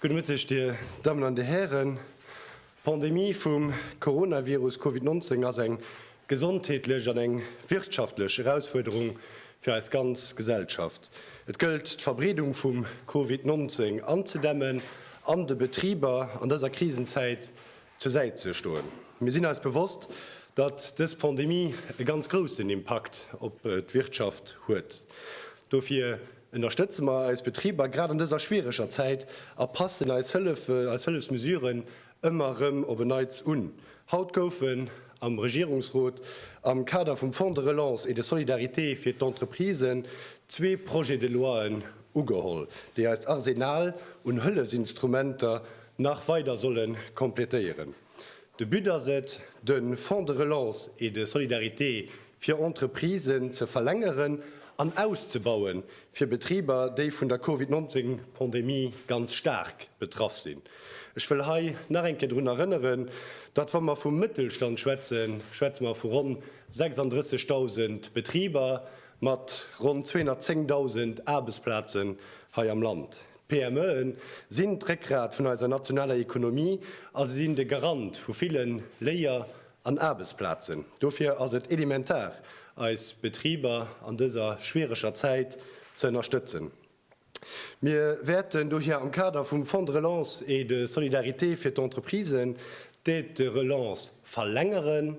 Gudde Mëtteg, Dir Dammen an Dir Hären. D'Pandemie vum Coronavirus Covid 19 ass eng gesondheetlech an eng wirtschaftlech Erausfuerderung fir eis ganz Gesellschaft. Et gëllt, d'Verbreedung vum Covid 19 anzedämmen an de Betriber an dëser Krisenzäit zur Säit ze stoen. Mir sinn eis bewosst, datt dës Pandemie e ganz groussen Impakt op d'Wirtschaft huet. Dofir ënnerstëtze mer eis Betriber grad an dëser schwiereger Zäit a passen eis Hëllef, eis Hëllefsmesuren ëmmer erëm op en Neits un. Haut goufen am Regierungsrot am Kader vum Fonds de relance et de solidarité fir d'Entreprisen zwee Projets-de-loien ugeholl, déi eist Arsenal un Hëllefsinstrumenter nach weider solle completéieren. De But ass et, de Fonds de relance et de solidarité fir Entreprisen ze verlängeren an auszebauen, fir Betriber, déi vun der Covid 19 Pandemie ganz staark betraff sinn. Ech wëll hei nach eng Kéier drun erënneren, datt, wa mer vum Mëttelstand schwätzen, schwätze mer vu ronn 36.000 Betriber mat ronn 210.000 Aarbechtsplazen hei am Land. D'PMEen sinn d'Réckgrat vun eiser nationaler Ekonomie a se sinn de Garant vu ville Léier an Aarbechtsplazen. Dofir ass et elementar, eis Betriber an dëser schwiereger Zäit ze ënnerstëtzen. Mir wäerten dohier am Kader vum Fonds de relance et de solidarité fir d'Entreprisen d'Aide de relance verlängeren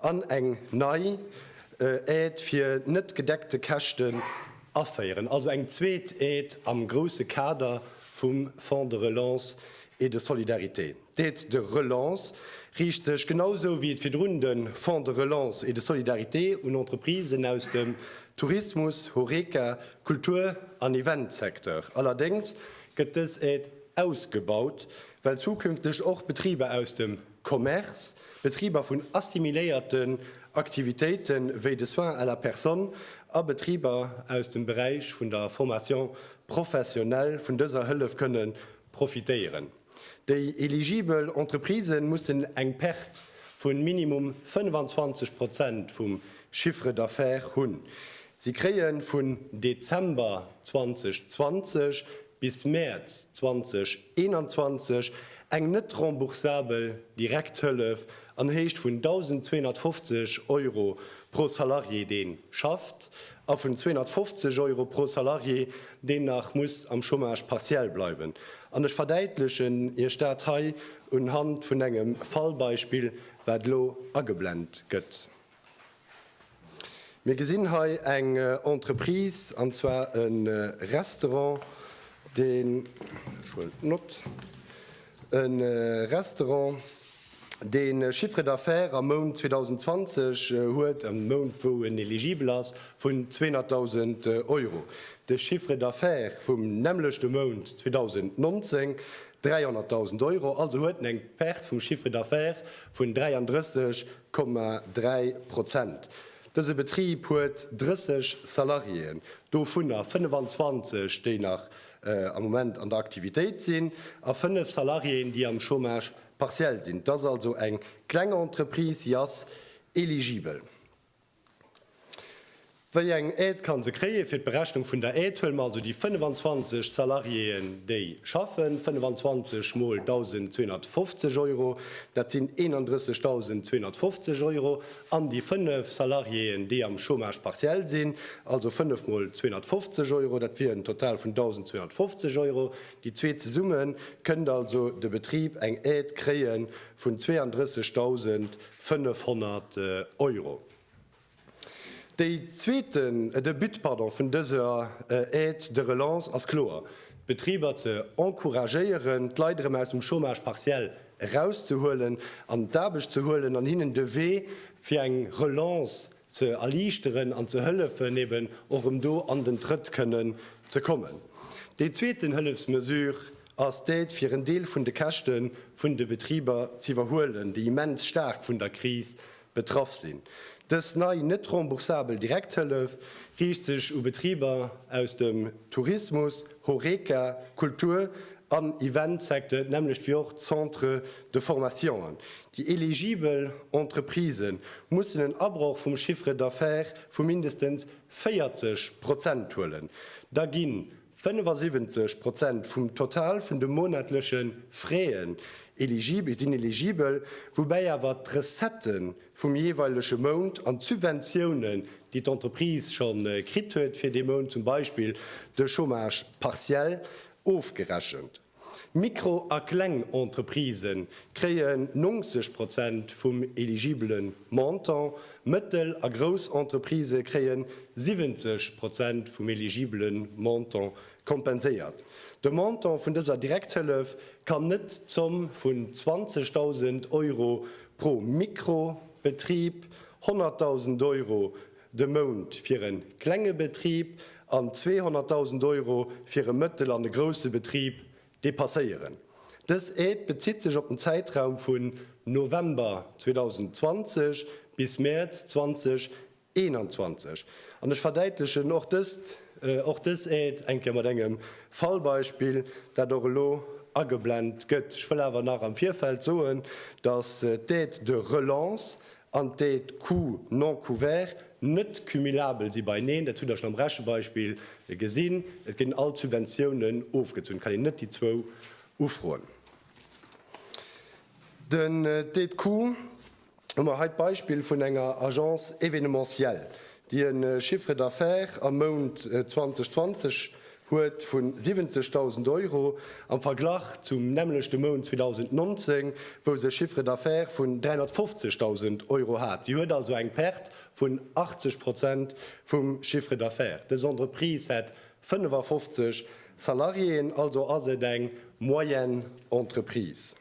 an eng nei Aide fir net gedeckte Käschten Aféieren, also eng zweet Aide am grousse Kader vum Fonds de relance et de solidarité. D'Aide de relance riicht sech, genau esou wéi et virdrun de Fonds de relance et de solidarité, un Entreprisen aus dem Tourismus, Horeca, Kultur an Eventsecteur. Allerdéngs gëtt dës Aide ausgebaut, well zukünfteg och Betriber aus dem. Commerce, Betriber vun assimiléierten Aktivitéite wéi de Soins à la personne a Betriber aus dem Beräich vun der Formation professionnelle vun dëser Hëllef kënne profitéieren. Déi eligibel Entreprisë mussen eng Perte vu minimum 25 Prozent vum Chiffre d'affaires hunn. Si kréie vun Dezember 2020 bis Mäerz 2021 eng net remboursabel Direkthëllef an Héicht vun 1.250 Euro pro Salarié dee schafft a vun 250 Euro pro Salarié deen nach muss am Chômage partiel bleiwen. An ech verdäitlechen Iech dat hei unhand vun engem Fallbeispill wat elo ageblent gëtt. Mir gesinn hei eng Entreprise, an zwar e Restaurant, deen, ech huelen d'Nott, e Restaurant, dee Chiffre d'affaires am Mount 2020 huet, am Mount wou en eligibel ass, vun 200.000 Euro. De Chiffre d'affaires vum nämmlechte Mount 2019, 300.000 Euro. Also huet en eng Perte vum Chiffre d'affaires vun 33 Komma dräi Prozent. Dëse Betrib huet 30 Salariéen, dovunner 25, déi nach am Moment an der Aktivitéit sinn, a fënnef Salariéen, déi am Chômage partiel sinn. Et ass also eng kleng Entreprise, si ass eligibel. Wéi eng Aide kann se kréien? Fir d'Berechnung vun der Aide huele mer also déi 25 Salariéen, déi schaffen, 25 mol 1.250 Euro, dat sinn 31.250 Euro, an déi 5 Salariéen, déi am Chômage partiel sinn, also 5 mol 250 Euro, dat wier en Total vun 1.250 Euro. Déi zwee zesumme kënnt also de Betrib eng Aide kréie vun 32.000 500 Euro. Dee zweeten, de But, pardon, vun dëser Aide de relance ass kloer, d'Betriber ze encouragéieren, d'Leit erëm aus dem Chômage partiel erauszehuelen, an d'Aarbecht ze huelen an hinnen de Wee fir eng Relance ze erliichteren an ze hëllefen, eben och erëm do an den Trëtt kënnen ze kommen. Déi zweeten Hëllefsmesure, ass d'Aide fir en Deel vun de Käschte vun de Betriber z'iwwerhuelen, déi immens staark vun der Kris betraff sinn. Dës nei net remboursabel Direkthëllef riicht sech u Betriber aus dem Tourismus, Horeca, Kultur an Event-Secteur, d'nämmlecht wéi och d'Centres de formationen. Déi eligibel Entreprisë mussen en Abroch vum Chiffre d'affaires vu mindestens 40 Prozent huelen, da ginn 75 Prozent vum Total vun de monatleche Fraisen sinn eligibel, woubäi awer d'Recettë vum jeeweilege Mount an d'Subventiounen, déi d'Entreprise scho kritt huet fir dee Mount, zum Beispill de Chômage partiel, ofgerechent. Mikro a kleng Entreprisë kréien 90 Prozent vum eligibele Montant, mëttel a grouss Entreprisë kréien 70 Prozent vum eligibele Montant kompenséiert. De Montant vun dëser Direkthëllef kann net d'Zomm vun 20.000 Euro pro Mikro-Betrib, 100.000 Euro de Mount fir e klenge Betrib an 200.000 Euro fir e mëttel an e grousse Betrib depasséieren. Dës Aide bezitt sech op den Zäitraum vun November 2020 bis Mäerz 2021. An ech verdäitlechen och dëst, och dës Aide eng Kéier mat engem Fallbeispill, dat och elo ageblent gëtt. Ech wëll awer nach am Virfeld soen, dass d'Aide de relance an déi d'Coûts non couverts net cumulabel si beieneen, dat hutt Der schonn am Rechebeispill gesinn, et ginn all d'Subventiounen ofgezunn, et kann een net déi zwou ufroen. Den déi d'Coûts hu mer hei d'Beispill vun enger Agence événementielle, déi e Chiffre d'affaires am Mount 2020 huet vu 70.000 Euro am Verglach zum nämmlechte Mount 2019, wou se e Chiffre d'affaires vun 350.000 Euro hat. Si huet also eng Perte vun 80 Prozent vum Chiffre d'affaires. Dës Entreprise hätt 55 Salariéen, also ass et eng Moyenne-Entreprise.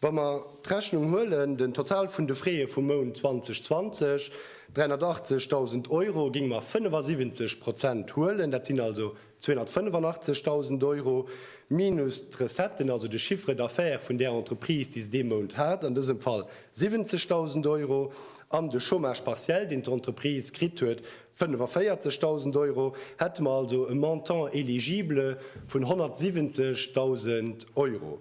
Wa mer d'Rechnung huelen, den Total vun de Freeë vum Mount 2020, 380.000 Euro, géinge mer 75 Prozent huelen, dat sinn also 285.000 Euro, minus d'Recetten, also de Chiffre d'affaires vun där Entreprise, déi se dee Mount hat, an dësem Fall 70.000 Euro, an de Chômage partiel, deen d'Entreprise kritt huet, 45.000 Euro, hätte mer also e Montant éligible vun 170.000 Euro.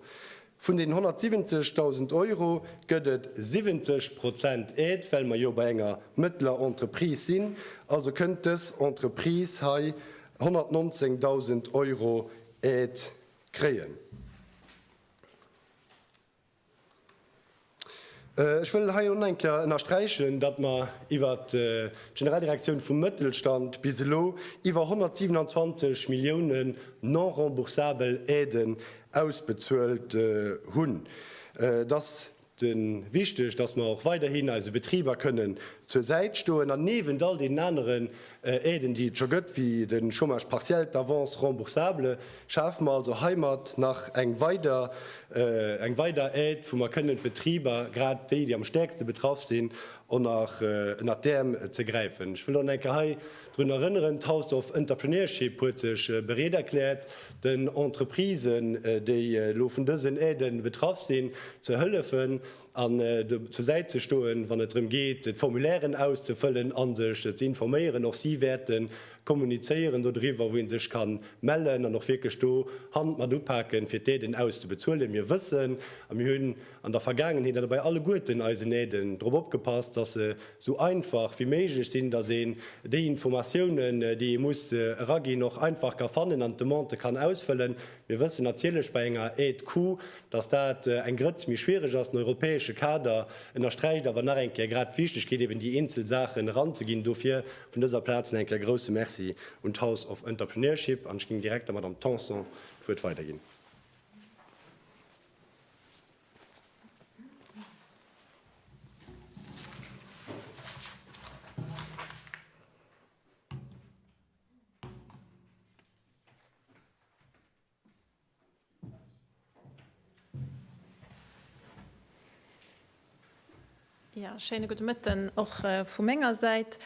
Vun deenen 170.000 Euro gëtt et 70 Prozent Aide, well mer jo bei enger mëttler Entreprise sinn. Also kënnt dës Entreprise hei 119.000 Euro Aide kréien. Ech wëll hei och nach eng Kéier ënnersträichen, datt mer iwwer d'Generaldirektioun vum Mëttelstand bis elo iwwer 127 Millioune non-remboursabel Aiden ausbezuelt hunn. Et ass wichteg, datt mer och weiderhin eise Betriber kënnen zur Säit stoen an niewent all deenen aneren Aiden, déi et scho gëtt, wéi de Chômage partiel, d'Avance remboursable, schafe mer also heimat nach eng weider eng weider Aide, wou mer kënnen d'Betriber, grad déi, déi am stäerkste betraff sinn, onnert ënnert d'Äerm ze gräifen. Ech wëll och nach eng Kéier hei drun erënneren, d'House of Entrepreneurship huet sech bereet erkläert, den Entreprisen, déi elo vun dësen Aiden betraff sinn, ze hëllefen. an do zur Säit ze stoen, wann et drëm geet, d'Formulairen auszefëllen an sech ze informéieren. Och si wäerte kommunizéieren do driwwer, wou ee sech ka mellen an och wierklech do Hand mat upaken, fir d'Aiden auszebezuelen. Mir wëssen a mir hunn an der Vergaangenheet an dobäi alleguerten eisen Aiden drop opgepasst, dass se esou einfach wéi méiglech sinn, dass een déi Informatiounen, déi ee muss eraginn, och einfach ka fannen an d'Demande kann ausfëllen. Mir wëssen natierlech bei enger Aide coût, dass dat eng Grëtz méi schwierig ass, den europäesche Kader ënnersträicht awer nach eng Kéier grad d'Wichtigkeet, eben déi eenzel Saachen eranzeginn. Dofir vun dëser Plaz nach eng Kéier grouse Merci un d'House of Entrepreneurship. An ech géing direkt der Madame Tanson d'Wuert weiderginn. Ja, schéine gudde Mëtten och vu menger Säit.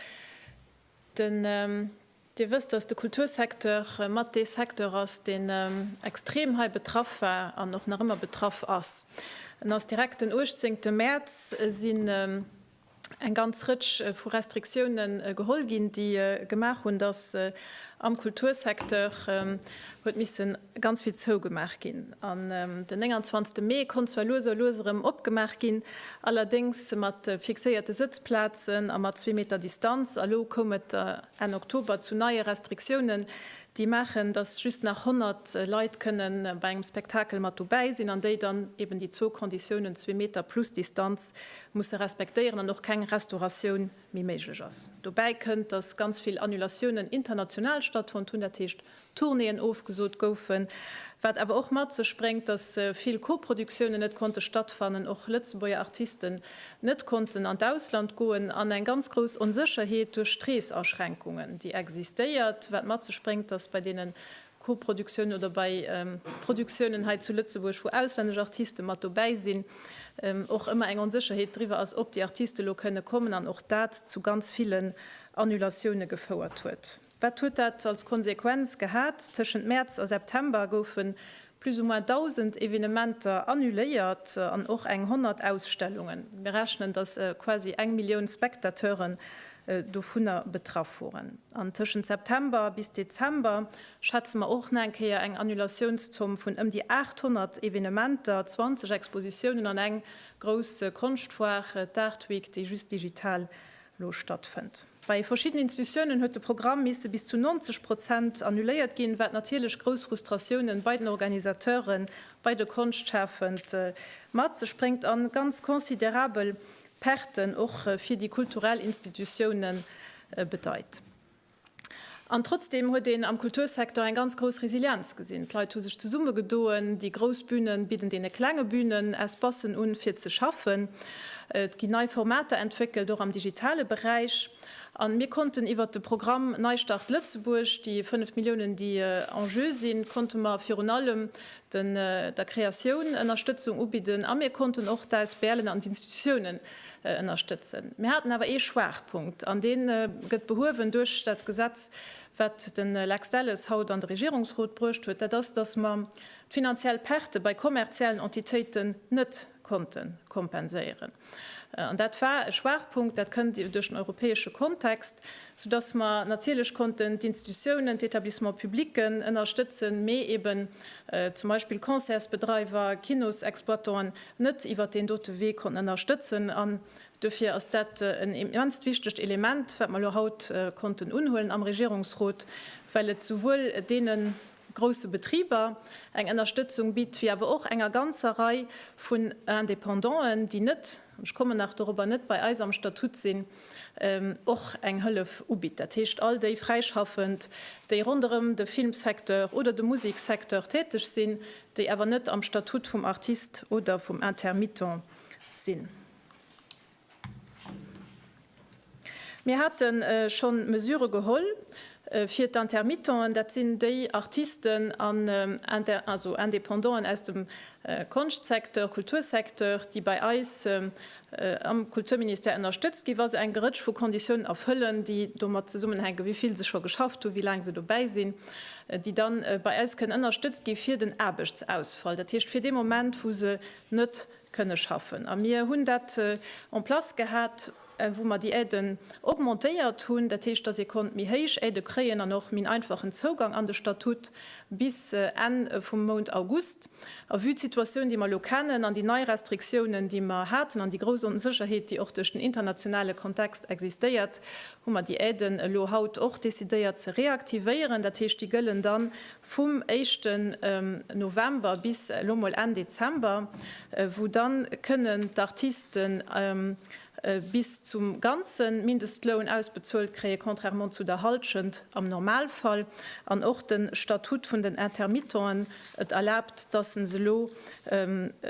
Den, Dir wësst, datt de Kultursecteur mat dee Secteur ass, deen extrem hei betraff war an och nach ëmmer betraff ass. En ass direkt den uechtzéngte Mäerz sinn eng ganz Rëtsch vu Restriktiounen geholl ginn, déi gemaach hunn, dass am Kultursecteur huet missen ganz vill zougemaach ginn. An den 29 Mee konnt zwar lues a lues erëm opgemaach ginn, allerdéngs mat fixéierte Sëtzplazen a mat zwee Meter Distanz. A lo koum et Enn Oktober zu neie Restriktiounen, déi maachen, datt just nach 100 Leit kënne bei engem Spektakel mat dobäi sinn an déi dann eben déi zwou Konditiounen, zwee Meter plus Distanz, musse respektéieren an och keng Restauratioun méi méiglech ass. Dobäi kënnt, datt ganz vill Annulatiounen international stattfonnt hunn, dat heescht Tournéeën ofgesot goufen, wat awer och mat sech bréngt, datt vill Koproduktiounen net konnte stattfannen, och Lëtzebuerger Artisten net konnten an d'Ausland goen, an eng ganz grouss Onsécherheet duerch d'Reesaschränkungen, déi existéiert, wat mat sech bréngt, datt bei deene Koproduktiounen oder bei Produktiounen hei zu Lëtzebuerg, wou auslännesch Artiste mat dobäi sinn, och ëmmer eng Onsécherheet driwwer ass, ob déi Artiste lo kënne kommen, an och dat zu ganz villen Annulatioune gefouert huet. Wat huet dat als Konsequenz gehat? Tëschent Mäerz a September goufe plus ou moins 1.000 Evenementer annuléiert an och eng honnert Ausstellungen. Mir rechnen, datt quasi eng Millioun Spectateuren dovunner betraff woren. An tëschent September bis Dezember schätze mer och nach eng Kéier eng Annulatiounszomm vun ëm déi 800 Evenementer, 20 Expositiounen an eng grouss Konschtfoire, d'Art Week, déi just digital elo stattfënnt. Bei verschiddenen Institutiounen huet de Programm misse bis zu 90 Prozent annuléiert ginn, wat natierlech grouss Frustratiounen bei den Organisateuren, bei de Konschtschafend mat sech bréngt an ganz considerabel Perten och fir déi kulturell Institutiounen bedeit. An trotzdeem huet een am Kultursecteur eng ganz grouss Resilienz gesinn. D'Leit hu sech zesummegedoen, déi grouss Bünen bidden deene klenge Bünen Espacen un, fir ze schaffen. Et ginn nei Formater entwéckelt, och am digitale Beräich. A mir konnten iwwert de Programm Neistart Lëtzebuerg, déi 5 Milliounen, déi en jeu sinn, konnte mer virun allem den der Kreatioun Ënnerstëtzung ubidden a mir konnten och d'ASBLen an d'Institutiounen ënnerstëtzen. Mir haten awer ee Schwaachpunkt an dee gëtt behuewen duerch dat Gesetz, wat de Lex Delles haut an de Regierungsrot bruecht huet, dat ass, dass mer d'finanziell Perte bei kommerziellen Entitéiten net konnte kompenséieren. An dat war e Schwaachpunkt, dat kënnt duerch den europäesche Kontext, soudass mer natierlech konnten d'Institutionen, d'Etablissements publics ënnerstëtzen, mee eeben zum Beispill Concertsbedreiwer, Kinosexploitanten net iwwert deen dote Wee konnten ënnerstëtzen. An duerfir ass dat en immenst wichtegt Element, wat mer elo haut konnten unhuelen am Regierungsrot, well et souwuel deenen, grousse Betriber eng Ënnerstëtzung bitt, wéi awer och enger ganzer Rei vun Indépendanten, déi net, ech kommen nach dorobber, net bei eis am Statut sinn, och eng Hëllef ubitt. Dat heescht, all déi Fräischaffend, déi ronderëm de Filmsecteur oder de Museksecteur täteg sinn, déi awer net am Statut vum Artist oder vum Intermittent sinn. Mir hate schonn Mesure geholl fir d'Intermittenten, dat sinn déi Artisten an Independanten aus dem Konschtsecteur, Kultursecteur, déi bei eis am Kulturministère ënnerstëtzt ginn, wa se eng Rëtsch vu Konditiounen erfëllen, déi domat zesummenhänken, wéi vill se scho geschafft hunn, wéi laang se dobäi sinn, déi da bei eis kënnen ënnerstëtzt gi fir den Aarbechtsausfall, dat heescht fir dee Moment, wou se net kënne schaffen. A mir hunn dat en place gehat, wou mer déi Aiden augmentéiert hunn. Dat heescht, dass ee konnt méi héich Aide kréien an och min einfachen Zougang an de Statut bis Enn vum Mount August. A vue d'Situatioun, déi mer elo kennen, an déi nei Restriktiounen, déi mer haten, an déi grouss Onsécherheet, déi och duerch den internationale Kontext existéiert, hu mer déi Aiden elo haut och decidéiert ze reaktivéieren. Dat heescht, déi gëllen dann vum éischten November bis elo mol Enn Dezember, wou dann kënnen d'Artisten bis zum ganzen Mindestloun ausbezuelt kréien, contrairement zu der Halschent am Normalfall. An och den Statut vun den Intermittenten, et erlaabt, dass en se elo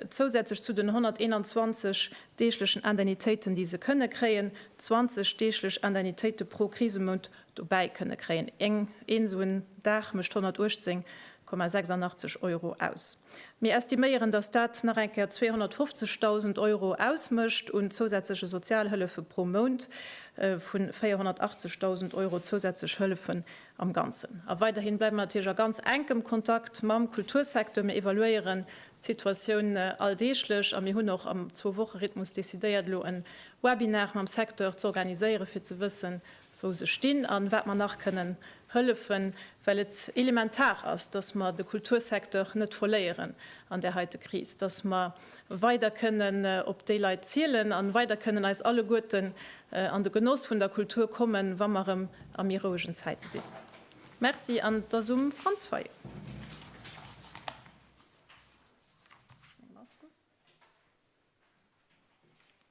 zousätzlech zu den 121 deeglechen Indemnitéiten, déi se kënnen kréien, 20 deeglech Indemnitéiten pro Krisemount Dobäi kënne kréien. Eng een sou en Dag mécht 118,86 Euro aus. Mir estiméieren, datt dat nach eng Kéier 250.000 Euro ausmécht un zousätzleche Sozialhëllefe pro Mount, vu 480.000 Euro zousätzlech Hëllefen am Ganzen. A weiderhi bleiwe mer natierlech a ganz enkem Kontakt mam Kultursecteur. Mir evaluéieren d'Situatioun alldeeglech a mir hunn och am Zwou-Woche-Rhythmus decidéiert, elo e Webinar mam Secteur z'organiséieren, fir ze wëssen, wou se stinn a wat mer nach kënnen hëllefen, well et elementar ass, dass mer de Kultursecteur net verléieren an där heite Kris, dass mer weider kënnen op déi Leit zielen a weider kënnen eis alleguerten an de Genoss vun der Kultur kommen, wa mer erëm a méi rouegen Zäite sinn. Merci an et ass um Franz Fayot.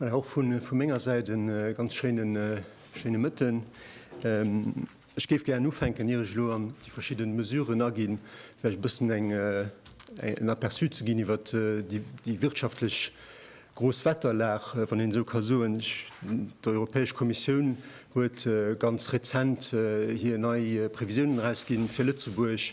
Och vu menger Säit e ganz schéine Mëtten. Ech géif gären ufänken, ier ech elo an déi verschidde Mesuren aginn, vläicht e bëssen en Aperçu ze ginn iwwer déi wirtschaftlech gros Wetterlag, wann een esou ka soen. D'Europäesch Kommissioun huet ganz rezent hir nei Previsiounen erausginn fir Lëtzebuerg.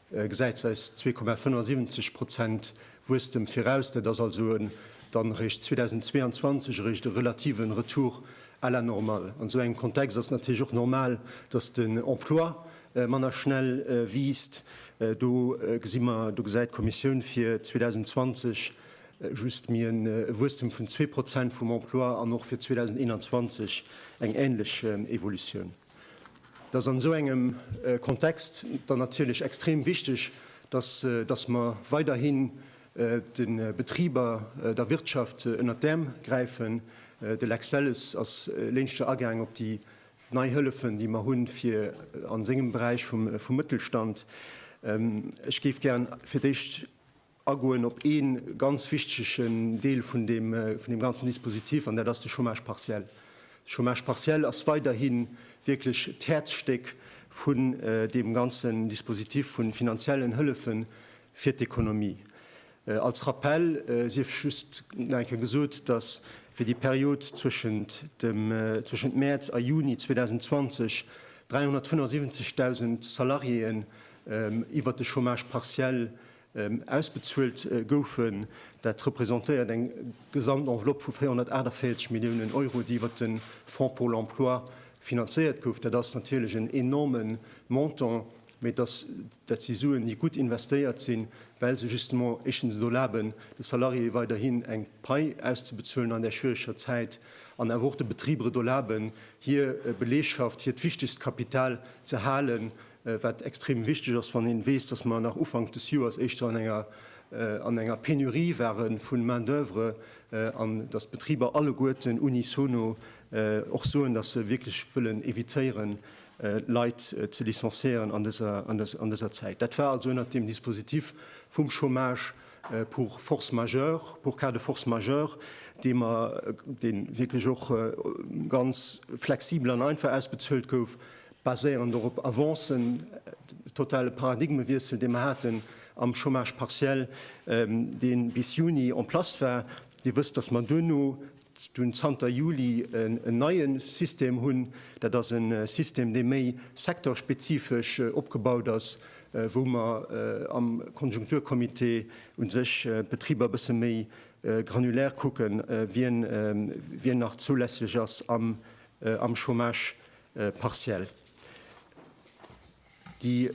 gesäit eis 2,75 Prozent Wuesstem viraus. Dat ass also dann eréischt 2022 eréischt e relative Retour à la normale. An esou engem Kontext ass natierlech och normal, datt den Emploi manner schnell wiisst. Do gesi mer, do gesäit d'Kommissioun fir 2020 just méi e Wuesstem vun zwee Prozent vum Emploi an och fir 2021 eng änlech Evolutioun. dass an esou engem Kontext dann natierlech extrem wichteg, dass dass mer weiderhin de Betriber, der Wirtschaft ënnert d'Äerm gräifen. De Lex Delles ass léinschter agaang op déi nei Hëllefen, déi mer hunn, fir a sengem Beräich vum Mëttelstand. Ech géif gär fir d'éischt, agoen op ee ganz wichtige Deel vun deem ganzen Dispositif, an dat ass de Chômage partiel. De Chômage partiel ass weiderhi wierklech d'Häerzstéck vun deem ganzen Dispositif vu finanziellen Hëllefe fir d'Ekonomie. Als Rappell sief just nach eng Kéier gesot, dass fir déi Period zwëschent Mäerz a Juni 2020 375.000 Salariéen iwwert de Chômage partiel ausbezuelt goufen. Dat representéiert eng Gesamtenveloppe vu 448 Milliounen Euro, déi iwwert de Fonds pour l'emploi finanzéiert gouf. Dat ass natierlech en enorme Montant, mee dat si Suen, déi gutt investéiert sinn, well se justement éischtens et erlaben, de Salariéeë weiderhin eng Pai auszebezuelen an där schwiereger Zäit an awer och de Betriber et erlaben, hir Belegschaft, hiert wichtegst Kapital ze halen. wat extrem wichteg ass, wann een weess, dass mer nach Ufank des Joers éischter an enger an enger Pénurie ware vun Main d'oeuvre an dass d'Betriber alleguerten unisono och soen, dass se wierklech wëllen évitéieren, Leit ze licenciéieren an dëser an dëser Zäit. Dat war also ënnert dem Dispositif vum Chômage pour force majeure, pour cas de force majeure, dee mer dee wierklech och ganz flexibel an einfach ausbezuelt gouf, baséierend och op Avancen, de totale Paradigmewiessel, dee mer haten am Chômage partiel, dee bis Juni en place war. Dir wësst, dass mer duerno, dunn zanter Juli, en neie System hunn. Dat ass e System, dee méi secteurspezifesch opgebaut ass, wou mer am Konjunkturcomité u sech d'Betriber e bësse méi granulär kucken, wien nach zoulässlech ass am Chômage partiell, déi,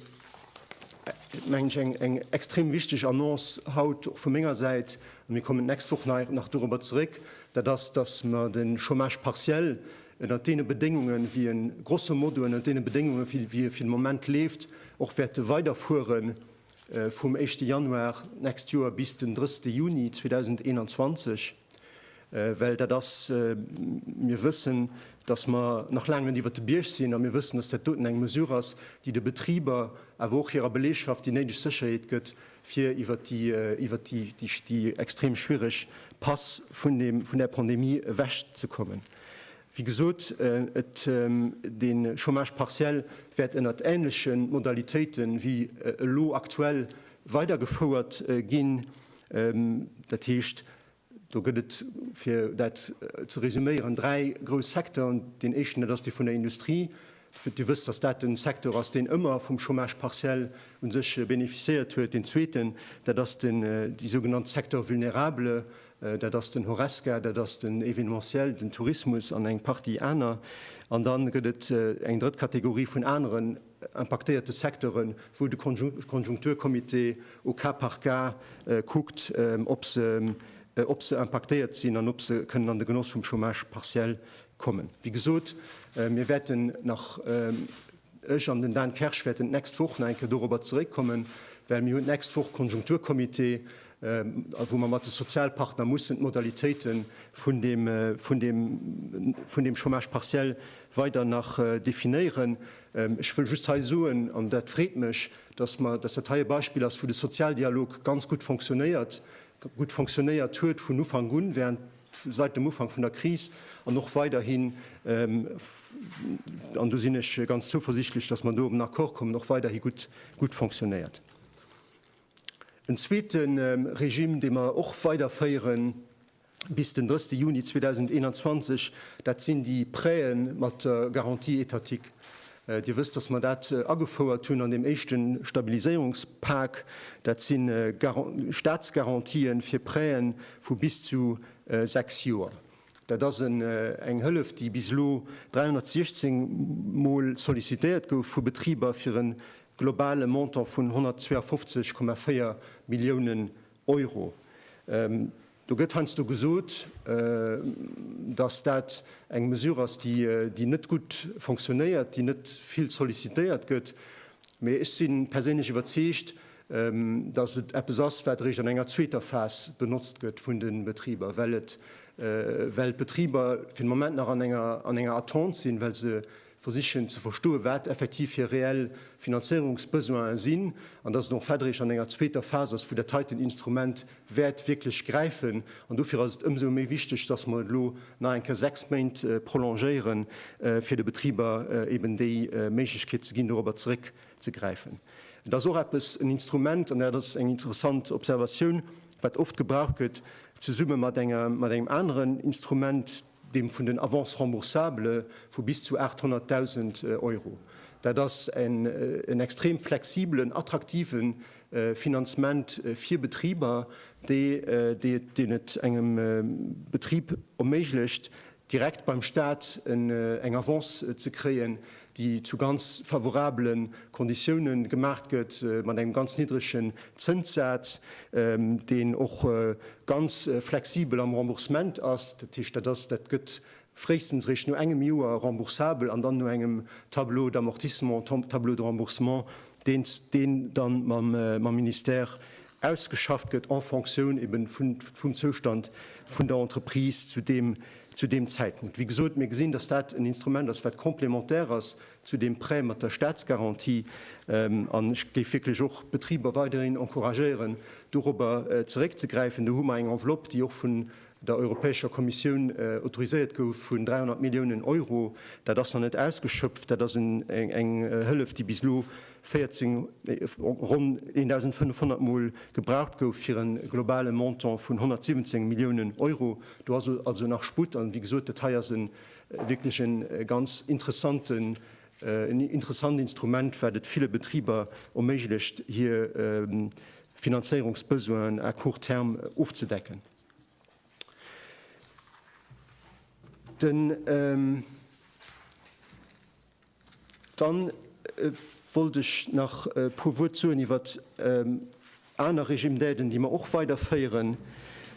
mengen ech, eng extrem wichteg Annonce haut och vu menger Säit, an mir kommen d'nächst Woch nach dorobber zeréck, dat ass, datt mer de Chômage partiell ënnert deene Bedéngungen, wéi e grosso modo ënnert deene Bedéngungen, wéi e fir de Moment leeft, och wäerte weiderfuere vum éischte Januar d'nächst Joer bis den drësste Juni 2021. Well dat ass, mir wëssen, dass mer nach laang net iwwert de Bierg sinn, a mir wëssen, dass dat doten eng Mesure ass, déi de Betriber, awer och hirer Belegschaft déi néideg Sécherheet gëtt, fir iwwert déi, iwwert déi, déi extrem schwierig Pass vun deem, vun där Pandemie ewechzekommen. Wéi gesot, et, de Chômage partiel wäert ënnert ähnleche Modalitéite wéi elo aktuell weidergefouert ginn. Dat heescht, Do gëtt et, fir dat ze resuméieren, dräi grouss Secteuren. Deen éischten, dat ass dee vun der Industrie. Dir wësst, dass dat den Secteur ass, deen ëmmer vum Chômage partiel u sech beneficiéiert huet. Deen zweeten, dat ass den, déi sougenannt Secteurs vulnérables, dat ass den Horesca, dat ass den Événementiel, den Tourismus an eng Partie aner. An da gëtt et eng drëtt Kategorie vun aneren impaktéierte Secteuren, wou de Konjunkturcomité au cas par cas kuckt, ob se impaktéiert sinn an ob se kënnen an de Genoss vum Chômage partiel kommen. Wéi gesot, mir wäerten nach, ech an den Dan Kersch wäerten d'nächst Woch nach eng Kéier dorobber zeréckkommen, well mir hunn d'nächst Woch Konjunkturcomité, wou mer mat de Sozialpartner mussen d'Modalitéite vun deem Chômage partiel weider nach definéieren. Ech wëll just hei soen, an dat freet mech, dass mer, dass dat hei e Beispill ass, wou de Sozialdialog ganz gutt fonctionnéiert, gutt fonctionnéiert huet vun Ufank un, während, seit dem Ufank vun der Kris an och weiderhin, an do sinn ech ganz zouversichtlech, dass mer do op en Accord kommen, och weiderhi gutt, gutt fonctionnéiert. En zweete Regime, dee mer och weiderféieren, bis den 30 Juni 2021, dat sinn déi Prêtë mat der Garantie étatique. Dir wësst, dass mer dat agefouert hunn an deem éischte Stabiliséierungspak. Dat si Statsgarantien fir Prêtë vu bis zu sechs Joer. Dat ass eng Hëllef, déi bis elo 316 Mol sollicitéiert gouf vu Betriber fir e globale Montant vun 152,4 Milliounen Euro. Euro. Do gëtt heiansdo gesot, dass dat eng Mesure ass, déi net gutt fonctionnéiert, déi net vill sollicitéiert gëtt. Mee ech si perséinlech iwwerzeegt, dass et eppes ass, wat eréischt an enger zweeter Phas benotzt gëtt vun de Betriber, well d'Betriber fir de Moment nach an enger Attente sinn, well se versichen ze verstoen, wat effektiv hir reell Finanzéierungsbesoine sinn, an dass et och fait eréischt an enger zweeter Phas ass, wou dat heiten Instrument wäert wierklech gräifen. An dofir ass et ëmsou méi wichteg, dass mer et elo nach eng Kéier sechs Méint prolongéieren, fir de Betriber eben déi Méiglechkeet ze ginn, dorobber zeréckzegräifen. Et ass och eppes, en Instrument, an dat ass eng interessant Observatioun, wat oft gebraucht gëtt zesumme mat engem aneren Instrument, deem vun den Avances remboursables vu bis zu 800.000 Euro. Dat ass en extrem flexibelen, attraktive Finanzement fir Betriber, deen et engem Betrib erméiglecht, direkt beim Staat eng Avance ze kréien, déi zu ganz favorabele Konditioune gemaach gëtt, mat engem ganz niddregen Zënssaz, deen och ganz flexibel am Remboursement ass. Dat heescht, dat ass, dat gëtt fréistens eréischt no engem Joer remboursabel an dann no engem Tableau d'amortissement, Tableau de remboursement, deen dann mam Ministère ausgeschafft gëtt en Fonctioun eben vun, vum Zoustand vun der Entreprise zu deem, zu deem Zäitpunkt. Wéi gesot, mir gesinn, dass dat en Instrument ass, wat complémentaire ass zu deem Prêt mat der Statsgarantie. An ech géif wierklech och d'Betriber weiderhin encouragéieren, dorobber zeréckzegräifen. Do hu mer eng Enveloppe, déi och vun der Europäescher Kommissioun autoriséiert gouf, vun 300 Milliounen Euro. Dat ass nach net ausgeschöpft. Dat ass eng Hëllef, déi bis elo 14, ronn 1.500 Mol gebraucht gouf, fir e globale Montant vun 117 Milliounen Euro. Do ass also nach Sputt. An wéi gesot, dat hei ass e wierklech e ganz interessanten, en interessant Instrument, wat et ville Betriber erméiglecht, hir Finanzéierungsbesoinen à court terme ofzedecken. Den. Dann wollt ech nach e puer Wuert soen iwwer aner Régime d'aides, déi mer och weiderféieren.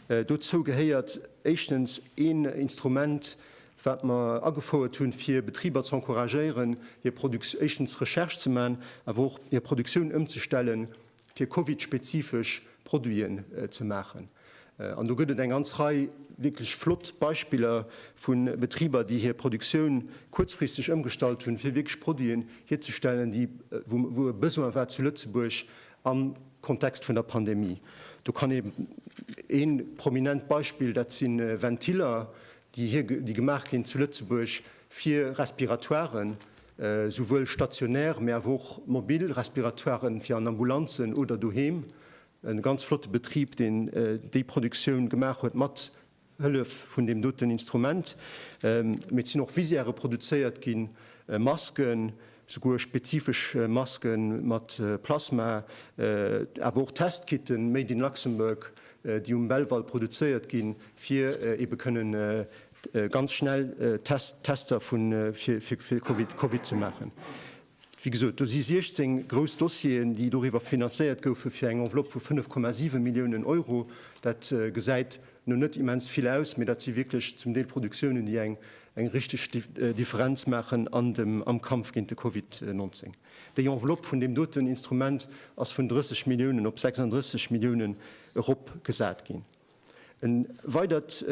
Dozou gehéiert éischtens een Instrument, wat mer agefouert hunn, fir Betriber ze encouragéieren, hir Produktioun, éischtens Recherche ze maachen, awer och hir Produktioun ëmzestellen fir Covid-spezifesch Produiten ze maachen. An do gëtt et eng ganz Rei wierklech flott Beispiller vu Betriber, déi hir Produktioun kuerzfristeg ëmgestallt hunn, fir wierklech Produiten hierzestellen, déi, wou, wou e Besoin war zu Lëtzebuerg am Kontext vun der Pandemie. Do kann ee prominent Beispill, dat si Ventiller, déi hir, déi gemaach ginn zu Lëtzebuerg fir Respiratoiren, souwuel stationär, mä awer och mobil Respiratoiren fir an Ambulanzen oder doheem, e ganz flotte Betrib, deen déi Produktioun gemaach huet mat Hëllef vun deem doten Instrument, mä et sinn och Visiere produzéiert ginn, Masken. Souguer spezifesch Maske mat Plasma, awer och Testkitten made in Luxembourg, déi um Belval produzéiert ginn, fir ebe kënnen ganz schnell Tester fir Covid ze maachen. Wéi gesot, do si 16 grouss Dossieren, déi doriwwer finanzéiert goufen, fir eng Enveloppe vu 5,7 Milliounen Euro. Dat gesäit no net immens vill aus, mee dat si wierklech zum Deel Produktiounen, déi eng eng richteg Differenz maachen an dem am Kampf géint de Covid 19. Déi Enveloppe vun deem doten Instrument ass vun 30 Milliounen op 36 Milliounen eropgesat ginn. E weidert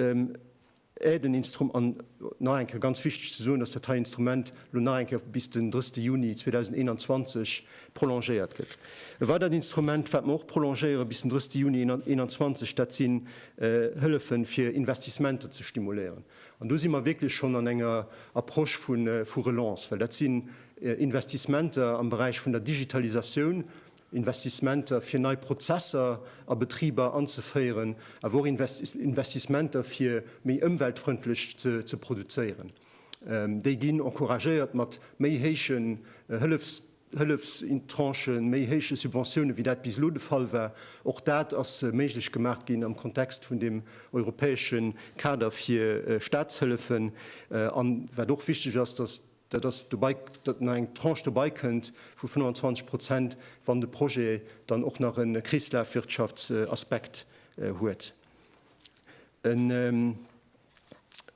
Aiden instrum an nach eng Kéier ganz wichteg ze soen, dass dat hei Instrument elo nach eng Kéier bis den 30 Juni 2021 prolongéiert gëtt. E weidert Instrument, wat mer och prolongéiere bis den 30 Juni 2021, dat sinn Hëllefe fir Investissementer ze stimuléieren. An do si mer wierklech schonn an enger Approche vu Relance, well dat sinn Investissementer am Beräich vun der Digitalisatioun, Investissementer fir nei Prozesser a Betriber anzeféieren, awer och Investissementer fir méi ëmweltfrëndlech ze produzéieren. Déi ginn encouragéiert mat méi héiche Hëllefstranchen, méi héiche Subventiounen, wéi dat bis elo de Fall war. Och dat ass méiglech gemaach ginn am Kontext vun deem europäesche Kader fir Staatshëllefen. An wat och wichteg ass, datt dat ass dobei, datt nach eng Tranche dobei kënnt vu 25 Prozent, wann de Projet dann och nach e Kreeslafwirtschaftsaspekt huet.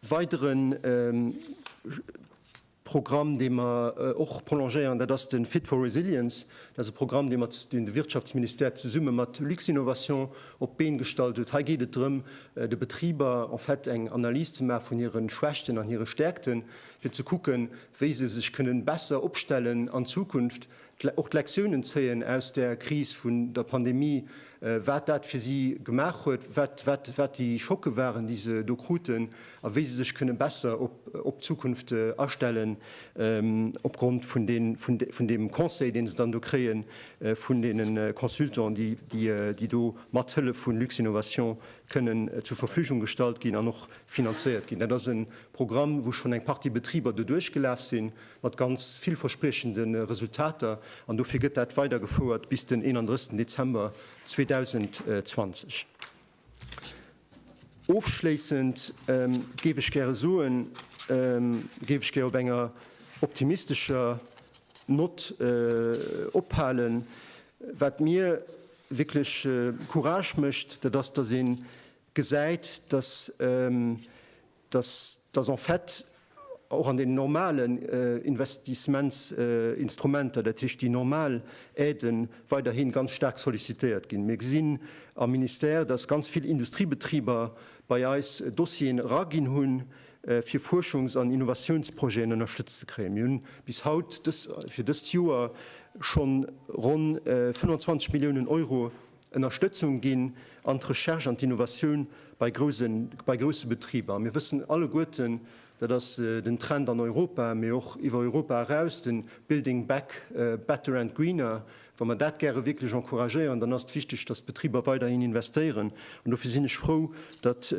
Weidere Programm, dee mer och prolongéieren, dat ass de Fit for Resilience. Dat ass e Programm, deen de Wirtschaftsministère zesumme mat Luxinnovation op d'Been gestallt huet. Hei geet et drëm, de Betriber en fait eng Analys ze maachen vun hire Schwächten an hire Stäerkten, fir ze kucken, wéi se sech kënnen besser opstellen an Zukunft, Och d'Lektiounen zéien aus der Kris vun der Pandemie, wat dat fir si gemaach huet, wat déi Schocke waren, déi se do kruten a wéi se sech kënne besser op d'Zukunft astellen, opgrond vun deem Conseil, dee se dann do kréie vun deene Consultants, déi do mat Hëllef vu Luxinnovation kënnen zur Verfügung gestallt ginn an och finanzéiert ginn. Dat ass e Programm, wou schonn eng Partie Betriber doduerch gelaf sinn mat ganz villverspriechende Resultater, an dofir gëtt dat weidergefouert bis den 31 Dezember 2020. Ofschléissend géif ech gäre soen, géif ech gär op enger optimistescher Nott ophalen. Wat mir wierklech Courage mécht, dat ass, datt ee gesäit, datt dass en fait och an den normalen Investissements-instrumenter, dat heescht déi normal Aiden, weiderhi ganz staark sollicitéiert ginn. Mir gesinn am Ministère, dass ganz vill Industriebetriber bei eis Dossieren eraginn hunn, fir Fuerschungs an Innovatiounsprojeten ënnerstëtzt ze kréien. Mir hunn bis haut fir dëst Joer schonn ronn 25 Milliounen Euro Ënnerstëtzung ginn an d'Recherche an d'Innovatioun bei grousse Betriber. Mir wëssen alleguerten, dat ass den Trend an Europa, mee och iwwer Europa eraus, de Building back better and greener, wa mer dat gäre wierklech encouragéieren, dann ass et wichteg, datt d'Betriber weiderhin investéieren. An dofir sinn ech frou, datt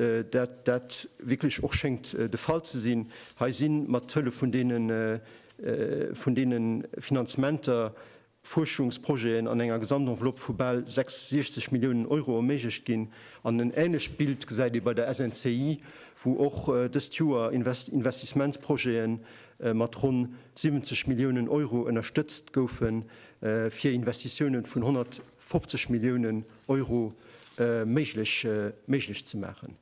dat wierklech och schéngt de Fall ze sinn. Hei si mat Hëllef vun deene Finanzementer Fuerschungsprojeten an enger Gesamtenveloppe vu bal 66 Milliounen Euro erméiglecht ginn. An en änlecht Bild gesäit ee bei der SNCI, wou och dëst Joer Investissementsprojete mat ronn 70 Milliounen Euro ënnerstëtzt goufen, fir Investitiounen vun 150 Milliounen Euro méiglech ze maachen.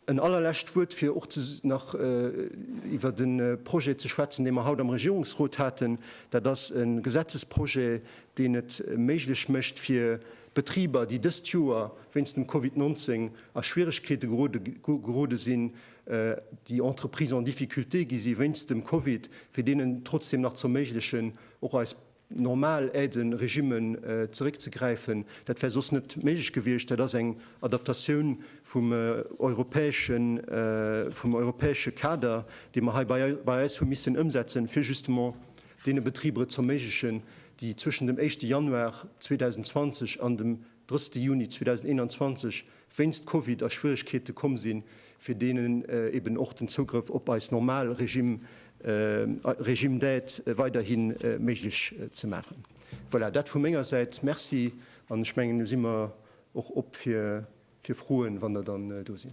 En allerlescht Wuert, fir och nach iwwert de Projet ze schwätzen, dee mer haut am Regierungsrot haten. Dat ass e Gesetzesprojet, deen et méiglech mécht fir Betriber, déi dëst Joer wéinst dem Covid 19 a Schwieregkeete gerode sinn, déi Entreprises en difficulté gi si wéinst dem Covid, fir deenen trotzdem nach z'erméiglechen, och eis normal Aide-Regime zeréckzegräifen. Dat wär soss net méiglech gewiescht. Dat ass eng Adaptatioun vum europäesche Kader, dee mer hei bei eis hu missen ëmsetzen, fir justement deene Betriber et z'erméiglechen, déi zwëschen dem éischte Januar 2020 an dem drëschte Juni 2021 wéinst Covid a Schwieregkeete komm sinn, fir deenen eben och den Zougrëff op eis normal Regime, Régime d'aide, weiderhi méiglech ze maachen. Voilà, dat vu menger Säit. Merci. An ech mengen, elo si mer och op fir Froen, wann der dann do sinn.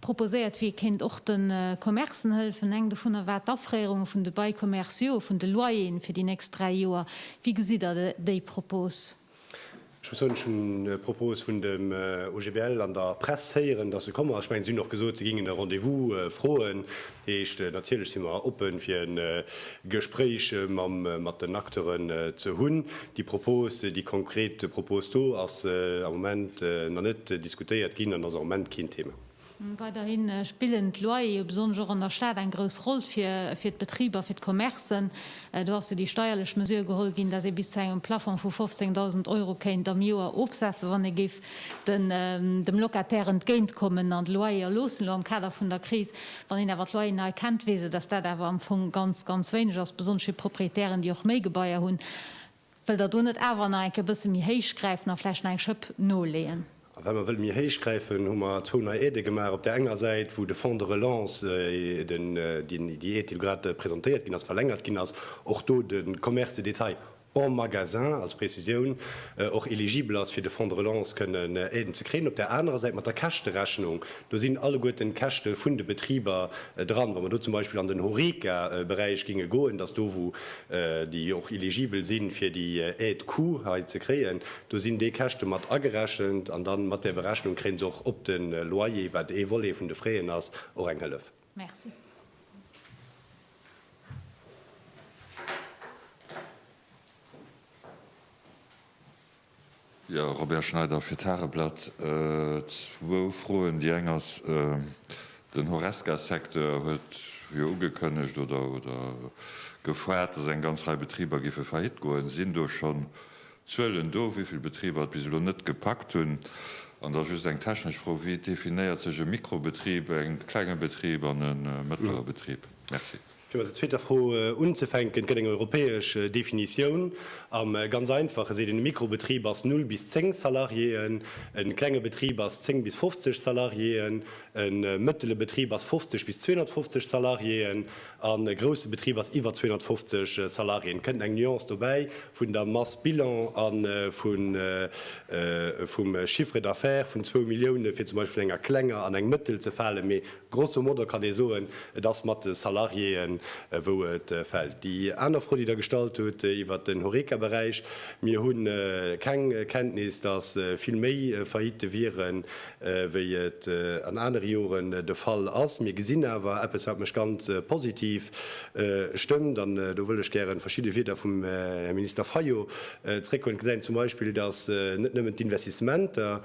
Proposéiert wier, kéint och de Commercen hëllefen. Eng dovunner war d'Afréierunge vun de Bail commerciaux, vun de Loyeren fir déi nächst dräi Joer. Wéi gesitt Der déi Propos? Ech muss soen, ech hunn d'Propos vun dem OGBL an der Press héieren, datt se komme ass. Ech mengen, se hunn och gesot, se géingen e Rendez-vous froen. Heescht, natierlech si mer oppen, fir e Gespréich mat den Acteuren ze hunn. Déi Propose, déi konkret Propose do ass am Moment nach net diskutéiert ginn an ass och am Moment keen Thema. Weiderhi spillen d'Loyere, besonnesch och an der Stad, eng grouss Roll fir d'Betriber, fir d'Commercen. Do ass jo déi steierlech Mesure geholl ginn, dass ee bis zu engem Plafong vu 15.000 Euro kéint am Joer ofsetzen, wann ee géif dem Locataire entgéint kommen an de Loyer erloossen, elo am Kader vun der Kris. Wann een awer d'Loyeren hei kennt, weess een, dass dat awer am Fong ganz, ganz wéineg ass, besonnesch fir Proprietären, déi och méi Gebaier hunn. Wëllt Der do net awer nach eng Kéier e bësse méi héich gräifen a vläicht nach eng Schëpp noleeën? A wa mer wëlle méi héich gräifen, hu mer zwou nei Aidë gemaach. Op där enger Säit, wou de Fonds de relance, déi Aide, déi grad presentéiert ginn ass, verlängert ginn ass, och do de Commerce de détail en magasin, als Prezisioun, och eligibel ass fir de Fonds de relance kënnen Aiden ze kréien. Op där anerer Säit mat der Käschterechnung, do sinn alleguerten d'Käschte vun de Betriber dran. Wa mer do zum Beispill an den Horeca Beräich ginge goen, dass do wou déi och eligibel si fir déi Aide coût hei ze kréien, do sinn déi Käschte mat agerechent an da mat där Berechnung kréie se och op de Loyer, wat ee Volet vun de Frais en ass, och eng Hëllef. Merci. Jo, Robert Schneider fir d'Tageblatt. Zwou Froen. Déi eng ass, Den Horesca-Secteur huet jo ugekënnegt oder gefoart, datt eng ganz Rei Betriber géife faillite goen. Sinn do schonn Zuelen do, wéi vill Betriber et bis elo net gepackt hunn. An da just eng technesch Fro, Wéi definéiert sech e Mikrobetrib, e klenge Betrib an e mëttlere Betrib? Merci. Fir mat der zweeter Fro unzefänken, Et gëtt eng europäesch Definitioun. A ganz einfach geséit een, e Mikrobetrib ass null bis zéng Salariéeën, e klenge Betrib ass zéng bis fofzeg Salariéeën, e mëttele Betrib ass fofzeg bis 250 Salariéeën. A grousse Betrib ass iwwer 250 Salariéen, kënnt eng Nuance dobäi vun der Masse bilan a vum Chiffre d'affaires vun zwou Millioune fir zum Beispill vun enger klenger an eng mëttel ze falen. Mee grosso modo kann ee soen, et ass mat de Salariéen, wou et fält. Déi aner Fro, déi Der gestallt hutt iwwert den Horeca-Beräich, Mir hu keng Kenntnis, datt vill méi Faillite wieren wéi et an anere Joren de Fall ass. Mir gesinn awer eppes, wat mech ganz positiv stëmmt, an do wëll ech gären verschidde Wieder vum Här Minister Fayot zréckhuelen, gesäin zum Beispill, dass net nëmmen d'Investissementer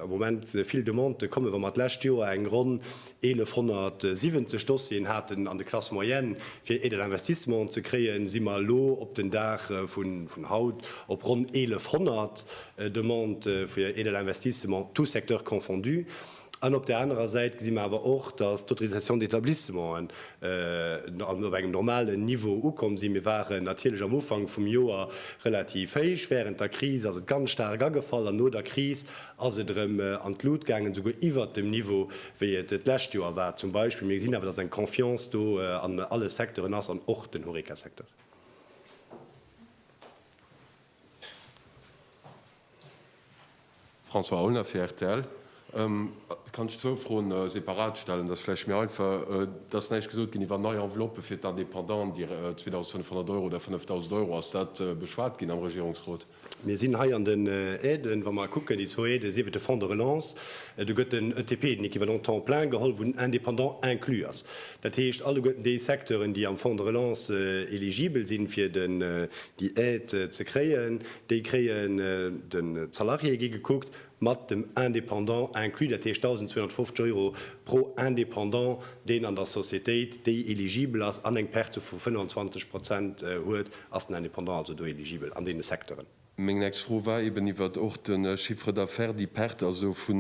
am Moment vill Demandë kommen, wa mer d'lescht Joer eng ronn 1.170 Dossieren haten an de Classes moyennes fir Aides à l'investissement ze kréien, si mer elo op den Dag vun haut op ronn 1.100 Demandë fir Aides à l'investissement, tous secteurs confondus. An op där anerer Säit gesi mer awer och, dass d'Autorisations d'établissementen op engem normalen Niveau ukomm sinn. Mir waren natierlech am Ufank vum Joer relativ héich, wärend der Kris ass et ganz staark agefall an no der Kris ass et erëm an d'Lut gaangen, esouguer iwwert dem Niveau, wéi et d'lescht Joer war zum Beispill. Mee mir gesinn awer, dass eng Confiance do an alle Secteuren ass an och den Horeca-Secteur. François Aulner fir rtl, Kann ech zwou Froen separat stellen? Dat ass vläicht méi einfach. Et ass näischt gesot ginn iwwer nei Enveloppë fir d'Independant, déi 2.500 Euro oder 5.000 Euro. Ass dat beschwat ginn am Regierungsrot? Mir sinn hei an den Aiden, wa mer kucken, déi zwou Aiden, sief et de Fonds de relance, do gëtt den ETP, den équivalent temps plein, geholl, wou den Indépendant inclus ass. Dat heescht, alleguerten déi Secteuren, déi am Fonds de relance eligibel sinn, fir déi Aide ze kréien, déi kréien, de Salariéë gi gekuckt, Mat dem Indépendant inclus, dat heescht 1.250 Euro pro Indépendant, deen an der Societéit, déi eligibel ass an eng Perte vu 25 Prozent huet, ass den Indépendant also do eligibel an deene Secteuren. Meng nächst Fro war eeben iwwert och de Chiffre d'affaires, déi Perte also vu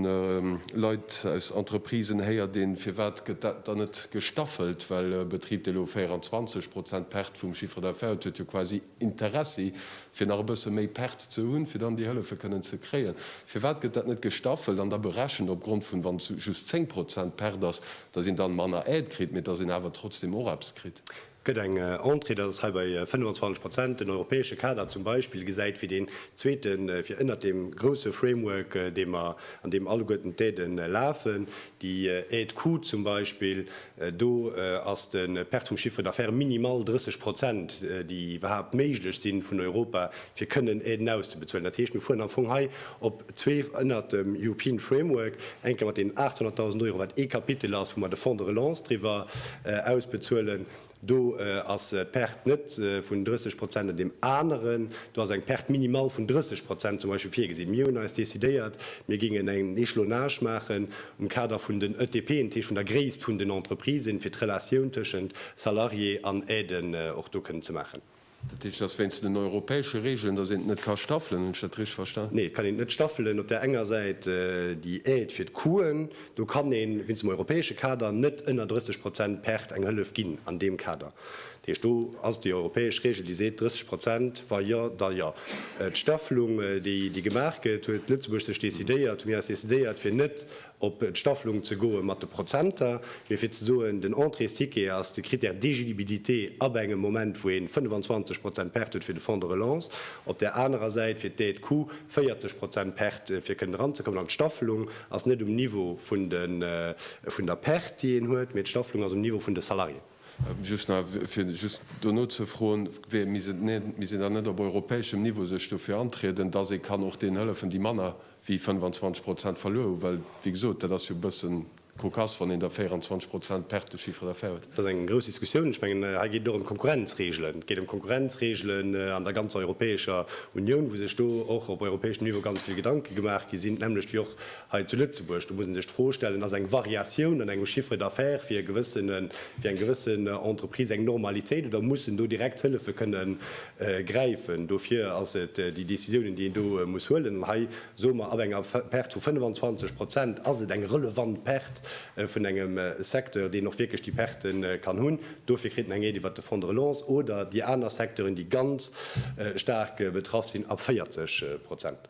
Leit aus Entreprisen. Héiert een, firwat gëtt dat dann net gestaffelt? Well e Betrib, dee elo 24 Prozent Perte vum Chiffre d'affaires huet, huet jo quasi Interessi, fir nach e bësse méi Perz ze hunn, fir dann déi Hëllefe kënnen ze kréien? Firwat gëtt dat net gestaffelt an da berechent opgrond vun, wann et just 10 Prozent Perte ass, datt een dann manner Aide kritt, mee datt een awer trotzdeem och eppes kritt? Et gëtt eng Entrée, dat ass hei bei 25 Prozent. Den europäesche Kader zum Beispill gesäit fir deen zweete, fir ënnert deem grousse Framework, dee mer, an deem alleguerten d'Aiden lafen, déi Aide coût zum Beispill, Do ass de Perte vum Chiffre d'affaires minimal, 30 Prozent, déi iwwerhaapt méiglech sinn vun Europa, fir kënnen Aiden auszebezuelen. Dat heescht, mir fueren am Fong hei op zwee ënnert dem European Framework, eng Kéier mat deenen 800.000 Euro, wat ee Kapitel ass, wou mer de Fonds de relance driwwer ausbezuelen, do ass d'Perte net vun 30 Prozent, an deem aneren do ass eng Perte minimal vun 30 Prozent zum Beispill virgesinn. Mir hunn eis decidéiert, mir géingen en Echelonage maachen, um Kader vun den ETPen, Tee vun der Gréisst vun den Entreprisen, fir d'Relatioun tëschent Salarié an Aiden och do kënnen ze maachen. Dat heescht, et ass wéinst den europäesche Regeln, dass een et net ka staffelen. Hunn ech dat richteg verstan? Nee, et kann een et net staffelen. Op där enger Säit déi Aide fir d'Coûten, do kann ee wéinst dem europäesche Kader net ënner 30 Prozent Perte eng Hëllef ginn an deem Kader. Heescht, do ass déi europäesch Regel, déi seet 30 Prozent, wa jo, da jo. D'Staffelung, déi gemaach gëtt, huet Lëtzebuerg sech decidéiert, hu mir eis decidéiert, fir net op d'Staffelung ze goe mat de Prozenter, mee fir ze soen, den Entréesticket ass de Critère d'éligibilité ab engem Moment, wou ee 25 Prozent Perte huet fir de Fonds de relance, op där anerer Säit fir d'Aide coût 40 Prozent Perte, fir kënnen eranzekommen. An d'Staffelung ass net um Niveau vun der Perte, déi een huet, mee d'Staffelung ass um Niveau vun de Salariéen. Just nach, fir just do nozefroen, Wéi, misst een dann net op europäeschem Niveau sech dofir antrieden, dass ee kann och deenen hëllefen, déi manner wéi 25 Prozent verluer hu? Well, wéi gesot, dat ass jo e bësse cocasse, wann een da 24 Prozent Perte de chiffre d'affaires huet. Dat ass eng grouss Diskussioun. Ech mengen, hei geet et och ëm d'Konkurrenzregeln. Et geet ëm d'Konkurrenzregeln an der ganzer Europäescher Unioun, wou sech do och op europäeschem Niveau ganz vill Gedanke gemaach gi sinn, d'nämlecht wéi och Hei zu Lëtzebuerg, do muss ee sech d'Fro stellen, Ass eng Variatioun an engem Chiffre d'affaires fir eng gewëssen Entreprise eng Normalitéit oder muss en do direkt Hëllefe kënne gräifen? Dofir ass et déi Décisiounen, déi een do muss huelen. An hei soe mer, Ab enger Perte vu 25 Prozent ass et eng relevant Perte vun engem Secteur, deen och wierklech déi Perte kann hunn. Dofir kritt en eng Aide iwwert de Fonds de relance oder déi aner Secteuren, déi ganz staark betraff sinn, ab 40 Prozent.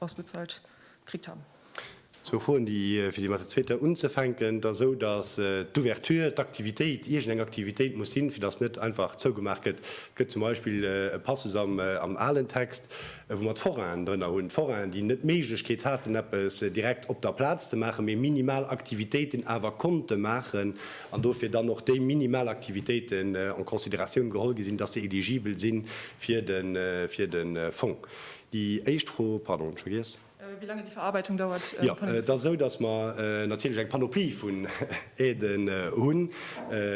ausbezuelt kritt han. Zwou Froen, déi, fir déi mat der zweeter unzefänken, et ass esou, datt d'Ouverture, d'Aktivitéit, iergendeng Aktivitéit muss sinn, fir datt net einfach zougemaach gëtt. Et gëtt zum Beispill e Passus am alen Text, wou mer d'Forainen drënner hunn, d'Forainen, déi net d'Méiglechkeet haten, eppes direkt op der Plaz ze maachen, mee minimal Aktivitéiten awer konnte maachen an dofir dann och déi minimal Aktivitéiten en considératioun geholl gi sinn, datt se eligibel si fir de Fong. Déi éischt Fro, pardon, ech vergiess. Wéi laange déi Verarbeitung dauert. Jo, et ass esou, datt mer natierlech eng Panoplie vun Aiden hunn.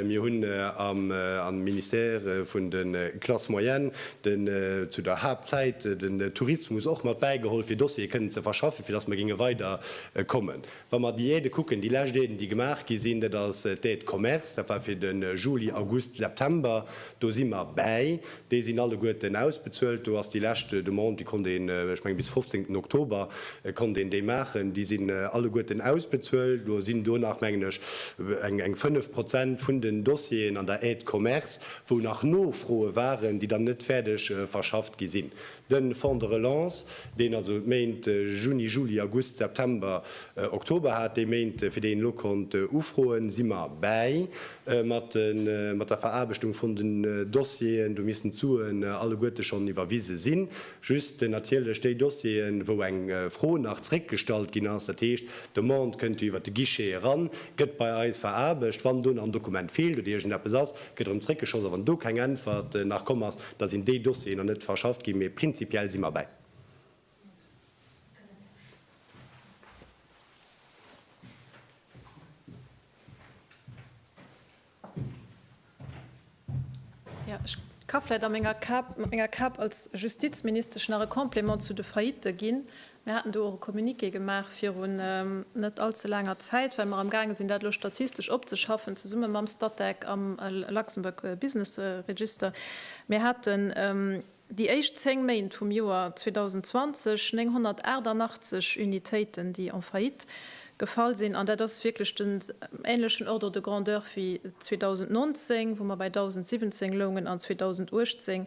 Mir hunn am Ministère vun de Classes moyennes, den zu der Haaptzäit den Tourismus och mat bäigeholl, fir Dossiere kënnen ze verschaffen, fir datt mer géinge weider kommen. Wa mer d'Diäte kucken, déi lescht Diäten, déi gemaach gi sinn, dat ass d'Diät de commerce, dat war fir de Juli, August, September, do si mer bäi, déi sinn alleguerten ausbezuelt. Do ass déi lescht Demande, déi konnt een, ech mengen, bis fofzéngten Oktober konnt een déi maachen, déi sinn alleguerten ausbezuelt. Lo sinn do nach, mengen ech, eng fënnef Prozent vun den Dossieren an der Aide de commerce, wou nach Nofroe waren, déi dann net fäerdeg verschafft gi sinn. De Fonds de relance, deen also d'Méint Juni, Juli, August, September, Oktober hat, déi Méint, fir déi een elo konnt ufroen, si mer bäi mat der Veraarbechtung vun den Dossieren. Do missten d'Suen alleguerte schonn iwwerwise sinn. Just natierlech déi Dossieren, wou eng Fro nach zréckgestallt ginn ass, dat heescht, d'Demande kënnt jo iwwert de Guichet eran, gëtt bei eis veraarbecht. Wann do nach en Dokument feelt oder iergendeppes ass, gëtt erëm zréckgeschoss. A wann do keng Äntwert nach komm ass, Da sinn déi Dossieren nach net verschafft ginn, mee prinzipiell si mer derbäi. Jo, ech ka vläicht a menger Kap, mat menger Kap als Justizministesch nach e Complément zu de Faillitte ginn. Mir haten do och e Communiqué gemaach virun net all ze laanger Zäit, well mer amgaange sinn, dat elo statistesch opzeschaffen, zesumme mam Statec am Luxembourg Business Register. Mir haten déi éischt zéng Méint vum Joer 2020 988 Unitéiten, déi en faillite gefall sinn, an dat ass wierklech den änlechen Ordre de grandeur wéi 2019, wou mer bei 1.017 loungen, an 2018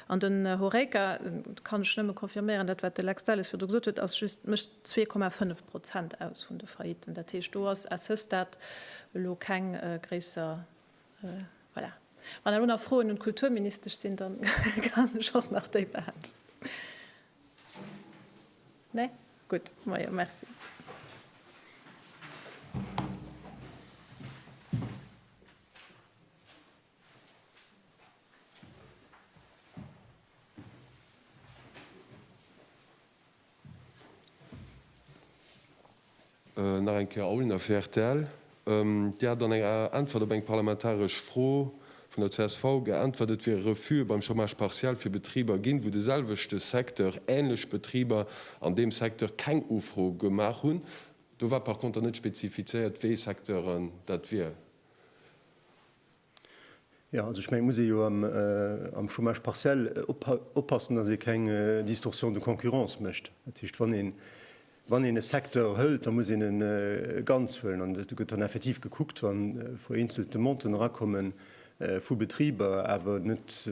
An den Horeca, do kann ech nëmme confirméieren, dat wat de Lex Delles virdu gesot huet, ass just, mécht zwee Komma fënnef Prozent aus vun de Faillitten. Dat heescht, do ass à ce stade elo keng gréisser, voilà. Wann elo nach Froen un d'Kulturministesch sinn, da kann ech och nach déi beäntwerten. Nee? Gutt, moie merci. Nach eng Kéier Aulner fir rtl. Dir hat an enger Äntwert op eng parlamentaresch Fro vun der csv geäntwert, et wiere Refuse beim Chômage partiel fir Betriber ginn, wou de selwechte Secteur, änlech Betriber an deem Secteur keng Ufro gemaach hunn. Do war par conter net spezifizéiert, wéi Secteuren dat wieren. Jo, also ech mengen, et muss ee jo am Chômage partiel oppassen, datt ee keng Distorsion de concurrence mécht. Dat heescht, wann een e Secteur hëlt, da muss een e ganz huelen. An do gëtt dann effektiv gekuckt, wa vereenzelte Monten erakomme vu Betriber, awer net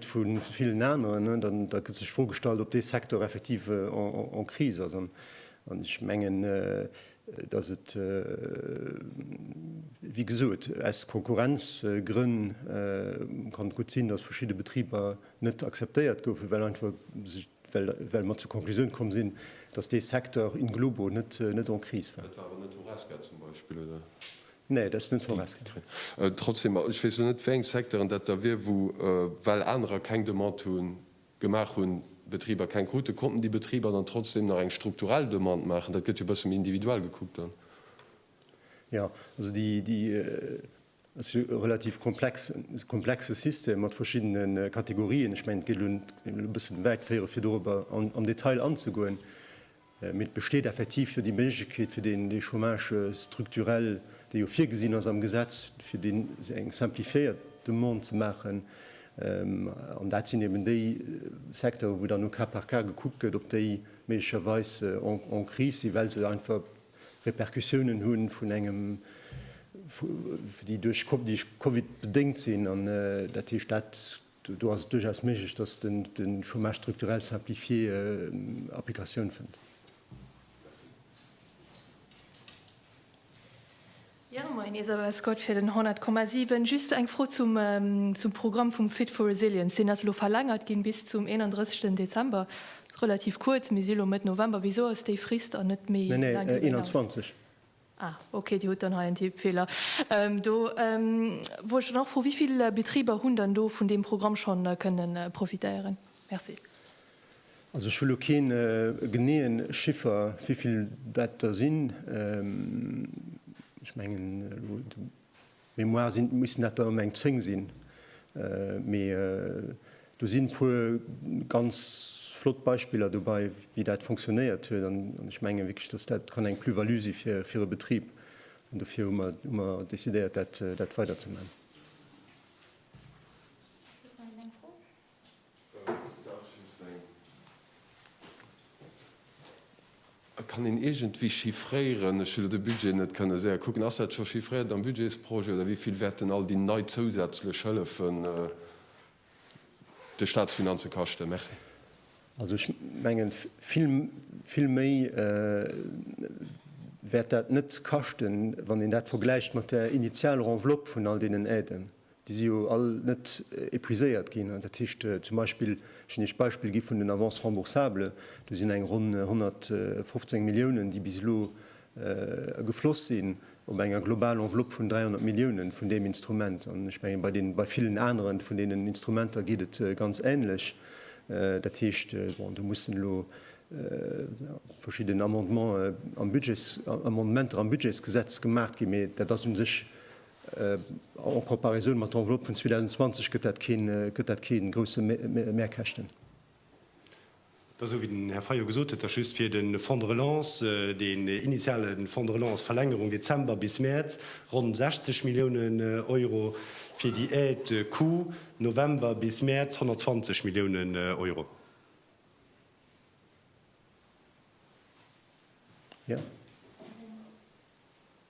vu villen aneren, da gëtt sech d'Fro gestallt, ob dee Secteur effektiv en crise ass. An ech mengen, dass et wéi gesot aus Konkurrenzgrënn kann gutt sinn, dass verschidde Betriber net akzeptéiert goufen, well einfach sech well mer zur Konklusioun komm sinn, dass dee Secteur in globo net net en Kris war. Dat war awer net Horesca zum Beispill, oder? Nee, dat ass net Horesca. Trotzdem, ech weess elo net, wéi eng Secteuren dat da wier, wou well anerer keng Demande hunn, gemaach hunn, Betriber keng krute, konnten déi Betriber dann trotzdem nach eng strukturell Demande maachen? Dat gëtt jo e bësse méi individuell gekuckt dann. Jo, also déi, déi ass jo e relativ komplex, komplexe System mat verschiddene Kategorien. Ech mengen, et gétt elo e bëssen wäit féieren, fir dorobber am Detail anzegoen. Mee et besteet effektiv jo déi Méiglechkeet, fir deen dee Chômage structurel, dee jo virgesinn ass am Gesetz, fir dee eng simplifiéiert Demande ze maachen. An dat sinn eben déi Secteuren, wou dann au cas par cas gekuckt gëtt, ob déi méiglecherweis en crise sinn, well se einfach Répercussiounen hu vun engem, déi duerch Covid bedéngt sinn. An dat heescht dat. Do ass et duerchaus méiglech, dass de Chômage structurel simplifié Applikatioun fënnt. Jo, moien nees awer, Här Scott, fir den 100,7. Just eng Fro zum Programm vum Fit for Resilience. Deen ass elo verlängert ginn bis zum 31. Dezember. Ass relativ kuerz. Mir si elo Mëtt November. Wisou ass déi Frist dann net méi laang ginn? Neen, neen, 21. Ah, ok, Dir hutt dann hei en Tippfeeler do. Wollt ech dann och froen, wéi vill Betriber hunn dann do vun deem Programm scho kënne profitéieren? Merci. Also ech hu lo kee geneeë Chiffer, wéi vill dat der sinn. Ech mengen elo Mémoire sinn, missten dat der ëm eng 10 sinn, mee do sinn puer ganz flott Beispiller dobei wéi dat fonctionnéiert huet an ech mengen wierklech dass dat kann eng Plus-value si fir e Betrib an dofir hu mer décidéiert dat weiderzeman. Et kann een iergendwéi chiffréieren, ech hu lo de Budget net kënne séier kucken. Ass dat scho chiffréiert am Budgetsprojet, oder wéi vill wäerten all déi nei zousätzlech Hëllefen de Staatsfinanze kaschten? Merci. Also ech mengen, vill, vill méi wäert dat net kaschten, wann een dat vergläicht mat der Initialenveloppe vun all deenen Aiden. Déi si jo all net épuiséiert ginn. Dat heescht zum Beispill, ech hunn Iech d'Beispill gi vun den Avances remboursables, do sinn eng ronn 115 Milliounen, déi bis elo gefloss sinn, op enger global Enveloppe vun 300 Milliounen vun deem Instrument. An ech menge bei deenen, bei villen anere vun deenen Instrumenter geet et ganz änlech. Dat heescht, bon, do mussen elo verschidden Amendements am Budgets, Amendementer am Budgetsgesetz gemaach ginn, mee dat ass u sech En Comparaison mat der Enveloppe vun 2020 gëtt dat kee grousse Mehrkäschten. Et ass esou, wéi den Här Fayot gesot huet, dass just fir de Fonds de relance, deen initiale Fonds de relance, Verlängerung Dezember bis Mäerz, ronn 60 Milliounen Euro, fir déi Aide coût November bis Mäerz 120 Milliounen Euro.